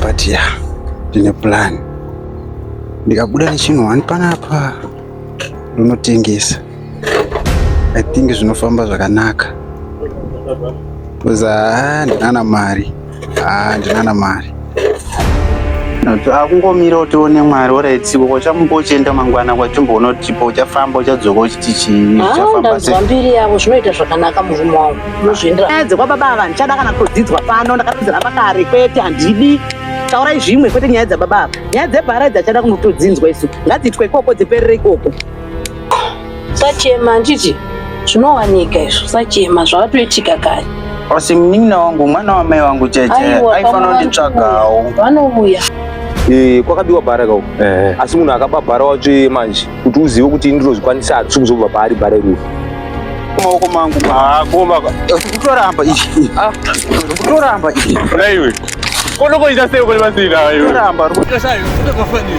but ya yeah, ndine plan ndikabuda nechinhu wani panapa ndonotengesa i think zvinofamba zvakanaka bcause ah, ndinana mari ah, ndinana mari akungomira utione mwari oraitsiko kwachamumba uchienda mangwana kwachumba unotipa uchafamba uchadzoka uchiti chii ah, uchafamba mbiri yavo zvinoita zvakanaka murume wangu Ndozviendera dzekwa baba ava handichada kana kudzidzwa pano ndakatodziramba kare kwete handidi taurai zvimwe kwete nyaya dzababa ava nyaya dzebhara idzi hachada kunotodzinzwa isu ngadziitwa ikoko dziperere ikoko sachema handiti zvinowanika izvo sachema zvakatoitika kare asi munin'ina wangu mwana wamai vangu cheche aifanira kunditsvagawo vanouya eh, kwakabiwa bhara kau eh. asi munhu akaba bhara watsvee manje kuti uzive kuti ini ndinozvikwanisa hatisi kuzobva paari bare rufu maoko mangu makomba kutoramba ichi kutoramba ichi naiwe konokoita sei kune masina iwe ramba rikutosayo kutokafanira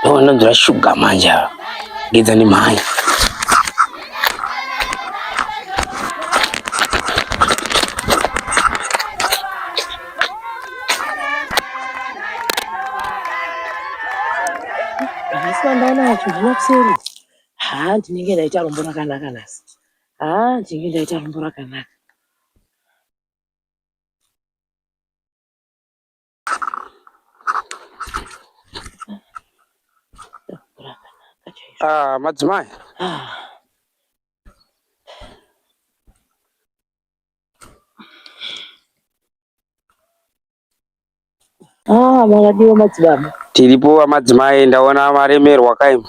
Ndowanonzwa shuga manje ava. Gedza nemhanya. Ndanacho ndinokuseri. Haa ndinenge ndaita rombo rakanaka nhasi. Haa ndinenge ndaita rombo rakanaka. Ah, madzimai. Ah. Ah, makadiwa madzibaba. Tiripo amadzimai ndaona maremerwa kaim.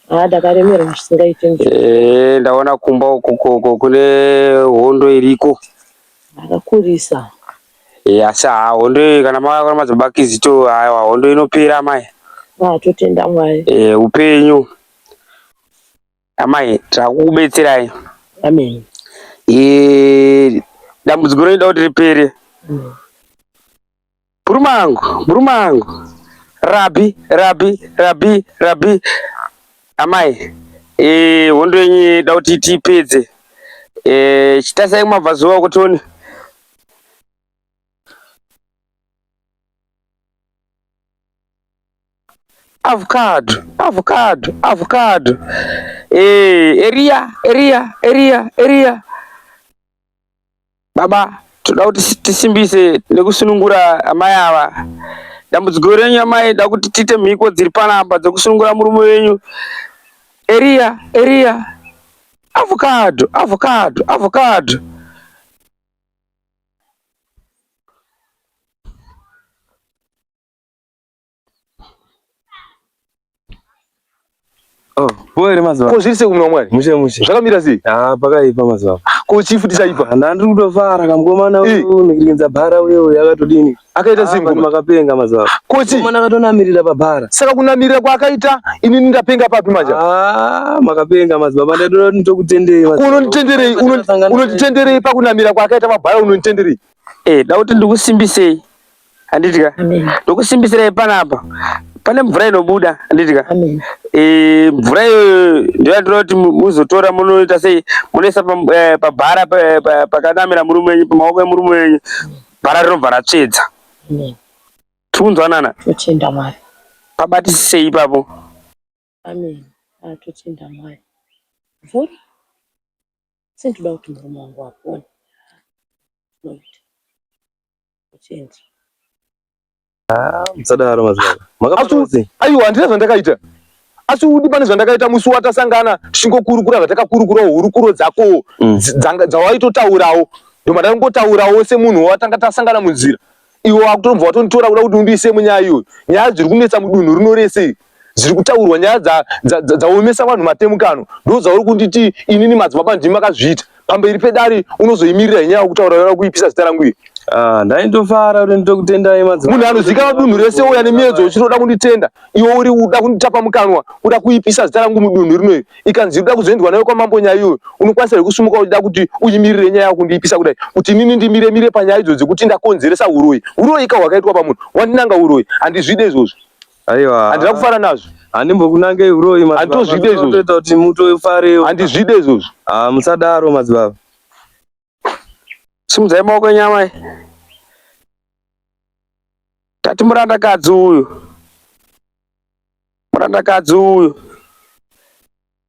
Ah, ndakaremerwa zvisingaite nje. Eh, ndaona kumba uko koko kune hondo iriko. Akakurisa. Eh, asi haa hondo iyi kana makaona madzibaba kizito aiwa hondo inopera amai Ah, totenda Mwari. eh, upenyu amai takukubetserai Amen. Eh, dambudziko rinoda kuti ripere Mm. murume angu murume angu rabi rabi rabi rabi amai eh, hondo yenyu inoda kuti tiipedze Eh, chitasai kumabvazuva kutione avocado avocado avocado eh eria eria eria eria baba toda kuti tisimbise nekusunungura amai ava dambudziko renyu amai da kuti tiite mhiko dziri panapa dzekusunungura murume wenyu eria eria avocado avocado avocado Pole mazuva. Ko zviri sei kumwe mwari? Mushe mushe. Zvakamira sei? Ah, pakaipa mazuva. Ko chifu tisaipa. Handiri kutofara kamgomana uyu nekirinza bhara uyo yakatodini. akaita ah, single makapenga mazuva kuti mwana akatonamirira pabhara saka kunamirira kwaakaita ini ndapenga papi manje ah makapenga mazuva baba ndadoda nditokutendei mazuva unonitenderei unonitenderei pakunamira kwaakaita pabhara unonitenderei eh dauti ndikusimbisei handitika ndokusimbisirai panapa pane mvura inobuda handitika eh, mvura iyoyo ndiyo ndinoti muzotora munoita sei munoisa pabhara eh, eh, pakanamira murume wenyu pamaoko emurume wenyu Bhara rinobva ratsvedza. Amen. Tiri kunzwanana? Totenda Mwari. Pabatisisei ipapo. Amen. Ah, totenda Mwari. Mvura. Asi ndoda kuti murume wangu apone. Tinoita. Totenda. Ah, musadaro mazvana. Makaparozi. Aiwa handina zvandakaita. Asi udi pane zvandakaita musi watasangana tichingokurukura zvatakakurukura hurukuro dzako mm. dzawaitotaurawo. Ndomada kungotaurawo semunhu watanga tasangana munzira. Iwo wakutonobva watonitora kuda kuti undiise munyaya iyoyo. Nyaya dziri kunetsa mudunhu rino rese. dziri kutaurwa nyaya dzaomesa vanhu matemukano ndodzauri kunditi inini madzibaba ndimi makazviita pamberi pedare unozoimirira inyaya yekutaura yava kuipisa zita rangu iri ah, ndaitofara kuti nditokutendai madzibaba munhu anozikanwa dunhu rese uya nemiedzo uchitoda kunditenda iwe uri uda kunditapa mukanwa uda kuipisa zita rangu mudunhu rino iri ikanzi uda kuzoendwa nayo kwamambo nyaya iyoyo unokwanisa here kusumuka uchida kuti uimirire nyaya yakundiipisa kudai kuti inini ndimire mire panyaya idzo dzekuti ndakonzeresa uroyi uroyi ka hwakaitwa pamunhu wandinanga uroyi handizvide izvozvo Aiwa. Handina kufara nazvo. Handimbokunangei uroyi madzibaba. Handitozvide izvozvo. Toita kuti mutofarewo. Handizvide izvozvo. Ah musadaro madzibaba. Simudzai maoko enyu amai. Tati murandakadzi uyu. Murandakadzi uyu.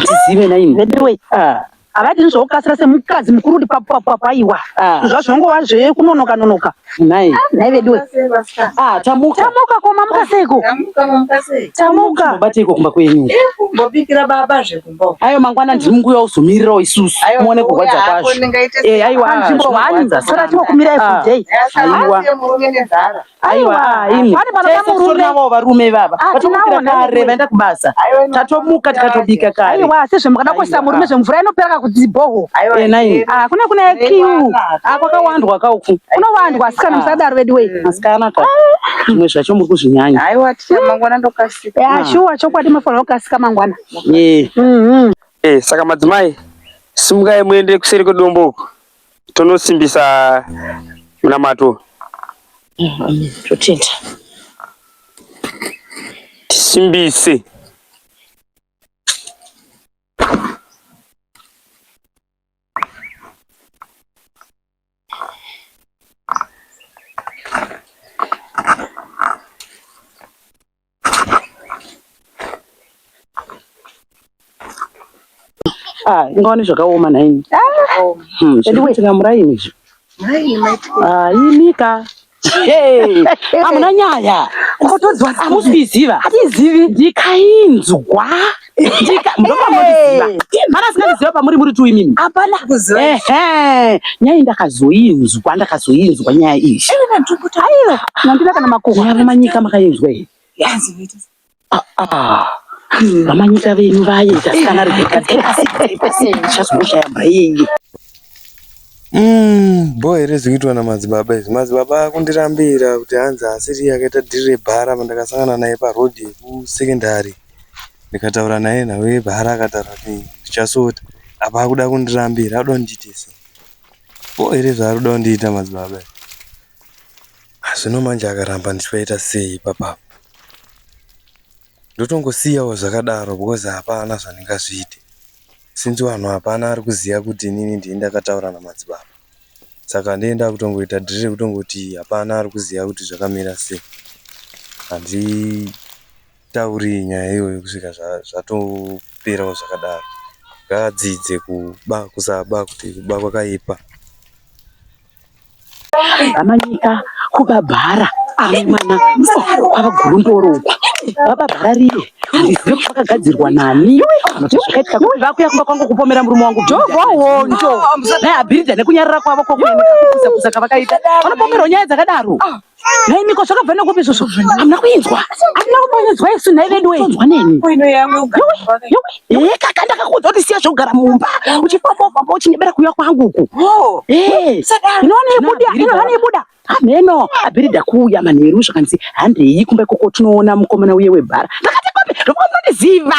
tizive naini veduwe ah. havadini zvokukasira semukadzi mukuru kuti papapapaiwa ah. zvazvongova zvekunonoka nonoka nai nai veduwe ah, tamuka tamuka koma muka seiko tamuka bateiko kumba kwenyu eh, mbobikira baba zvekumba ayo mangwana ndiri munguya uzomirirawo isusu muone kurwadza kwazvo eh, aiwa nzvimbo hani sara timokumirai fudei aiwa Aiwa, ah, imi. Pane mwana Tese kamurume. titorinawo varume ivava Ah, vatomukira tinawo, kare naiwe. vaenda kubasa tatomuka tikatobika kare aiwa sezvo mukada kuisa Aiwa. murume zvemvura inopera kakudzibhoho Eh, nai Ah, kune kune kiu Ah, kwakawandwa kauku kunowandwa asikana musadaro veduwei masikana ka zvimwe zvacho muri kuzvinyanya haiwa ticha mangwana ndokasika ya shuwa chokwadi mafanira kukasika mangwana Eh, Mhm. Eh, saka madzimai simukai muende kuseri kwedombo uko tonosimbisa munamato totenda tisimbise Ah, ingaone zvakaoma nhaimi Hmm, zviri kuitika muraini izvi Ah, imika Hey, hamuna nyaya Hamusi kuiziva ndikai nzwa ndopamundiziva pamuri muri tu imimi hapana kuziva nyaya ndakazoinzwa ndakazoinzwa nyaya iyi aiwa nandida kana makuhwa yavo manyika makainzwa here ah, ah. vamanyika venyu vaye tasikana richazongoshaya maiye Mm, bho here zvikuitwa namadzibaba izvi madzibaba akundirambira kuti hanzi asiri akaita dhiri rebhara pandakasangana naye parodhi kusekendari ndikataura naye nhau yebhara akataura kuti ndichasota apa akuda kundirambira akuda kundiite sei ko here zvaari kuda kundiita madzibaba zvino manje akaramba ndichivaita sei ipapapo ndotongosiyawo zvakadaro because hapana zvandingazviite since vanhu hapana ari kuziva kuti inini ndini ndakataura namadzibaba saka ndienda kutongoita dhiri rekutongoti hapana ari kuziva kuti zvakamira sei handi Tauriyi nyaya iyoyo kusvika zvatoperawo zvakadaro ngaadzidze kuba kusaba kuti kuba kwakaipa. Amanyika kuba bhara ane mwana kwava gurundoro uku baba bhara riye handizive kuti vakagadzirwa nani kuti zvakaitika kuti vakuya kumba kwangu kupomera murume wangu jovohondo naye abhiridha nekunyarara kwavo kwakuuza kuza kavakaita vanopomerwa nyaya dzakadaro Nhai miko zvakabva nekupi izvozvo? Hamuna kuinzwa. Hamuna kumbonyedzwa isu nhai vedu wei. Inzwa neni. Eh kaka ndakakuudza kuti siya zvekugara mumba. Uchifamba ufamba uchingebera kuuya kwangu uku. Oh. Eh. Inoona ibuda, inoona ibuda. Hameno, abirida kuuya manheru zvakanzi handei kumba ikoko tinoona mukomana uye webhara. Ndakati kopi, ndokunondiziva.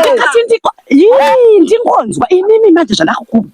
Ndikati ndiko. Yii, ndingonzwa inini manje zvandakakubva.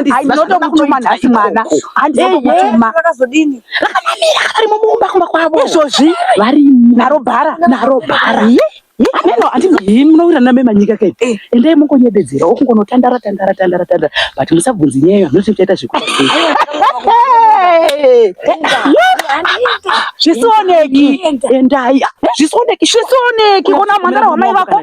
ndinotokutuma nhasi mwana handizokutuma rakazodini rakamamira varimo mumba kumba kwavo izvozvi varimo naro bhara naro bhara ameno andii munowira name manyika kai eh. endai mongonyebedzera okungonotandara tandara tandara tandara but musabvunzi nyaya iyo handinoti muchaita zvekuti zvisioneki endai zvisioneki zvisioneki ona mhandara wamai vako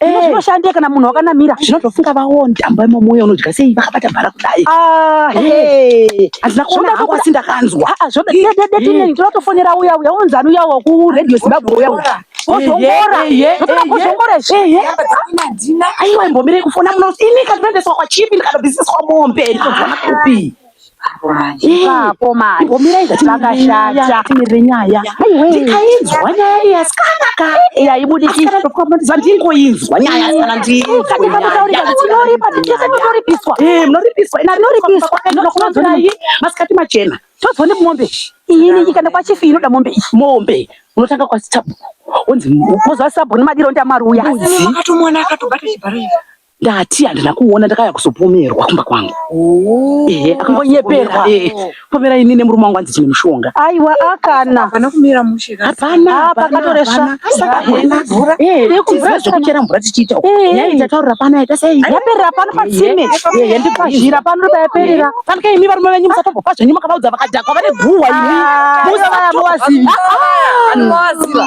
Zvino eh. zvinoshandika kana munhu wakanamira. Zvino zvofunga vaone damba imo moyo unodya sei vakabata bhara kudai. Ah, eh. hey. Azina kuona hangu asi ndakanzwa. Ah, ah zvoda dede dede tine tinotofonera uya uya unzi anu uya waku radio Zimbabwe uya uya. Kozongora. Zvotona kozongora izvi. Aiwa imbomire kufona muno. Ini katoendeswa kwa chipi ndikadobisiswa mombe. Ndikazwana kupi. ipapo manje zvakashata timire nyaya ndikainzwa nyaya iyi asikana ka yaibudikizva ndingoinzwa nyaya asikana ndinoripa tese munoripiswa munoripiswa ina rinoripiswa nokunozonayi masikati machena tozwa nemombe ini ikanda kwachifi inoda mombe iyi mombe unotanga kwasitabu unzi mozwa sabu nemadiro ndiamaruya akatomwana akatobata chibharo Ndati handina kuona ndakaya kuzopomerwa kumba kwangu. Oh. Ehe, akangonyeperwa. Eh, pomera ini nemurume wangu anzi chine mushonga. Aiwa akana. Hapana kumira mushe. Hapana, hapa katoresha. Saka hapana mvura. Eh, kumvura zvekuchera mvura tichiita. Eh, yayi tataura pana yaita sei? Yaperera pano patsime. Eh, yendi pazhira pano ndo yaperera. Kana kai imi varume venyu musatopo pazvo nyuma kavaudza vakadhakwa vane guwa imi. Musa vaya muwaziva. Anowaziva.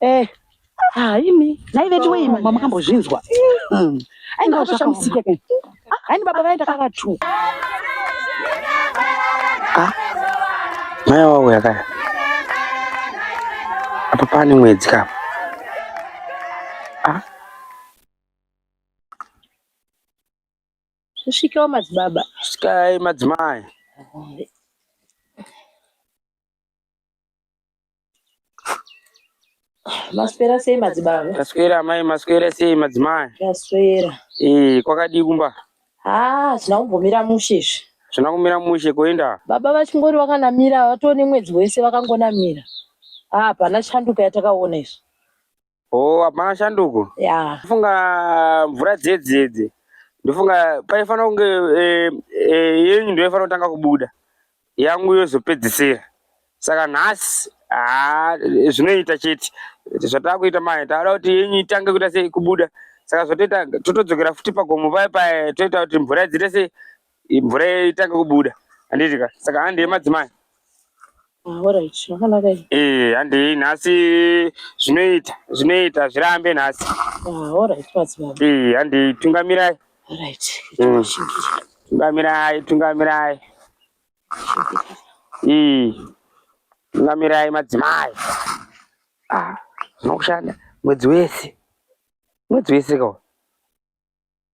Eh, ah, imi nhai vedu wei mama makambozvinzwa Mm. ainge atoshamisika kani Ah, haini baba vaye ndakavatuka Maya wawo yakaya. Apa pane mwedzi apa. Ah, zvisvikewo madzibaba sikai madzimai. Maswera sei madzibaba? Taswera amai, maswera sei madzimai? Taswera. Eh, kwakadii kumba? Haa, ah, zvina kumbomira mushe izvi. Zvina kumira mushe kuenda? Baba vachingori vakanamira, vatone mwedzi wese vakangonamira. Haa, ah, pana chanduka yatakaona izvi. Oh, hapana shanduko. Yeah. Funga mvura dzedzedze. Ndofunga paifanira kunge eh, eh, yenyu ndiyo ifanira kutanga kubuda. Yangu yozopedzisira. Saka nhasi ah zvinoita chete. Zvatava kuita mai tavada kuti yenyu itange kuita sei kubuda. Saka zvotoita totodzokera futi pagomo paya paya toita kuti mvura idzite sei Mvura yaitange kubuda handiti ka saka handi yemadzimai ah, eh, handei nhasi zvinoita zvinoita zvirambe nhasi ah, eh, handei tungamirai hmm. tungamirai tungamirai eh, tungamirai madzimai ah, zvinokushanda mwedzi wese mwedzi wese kawa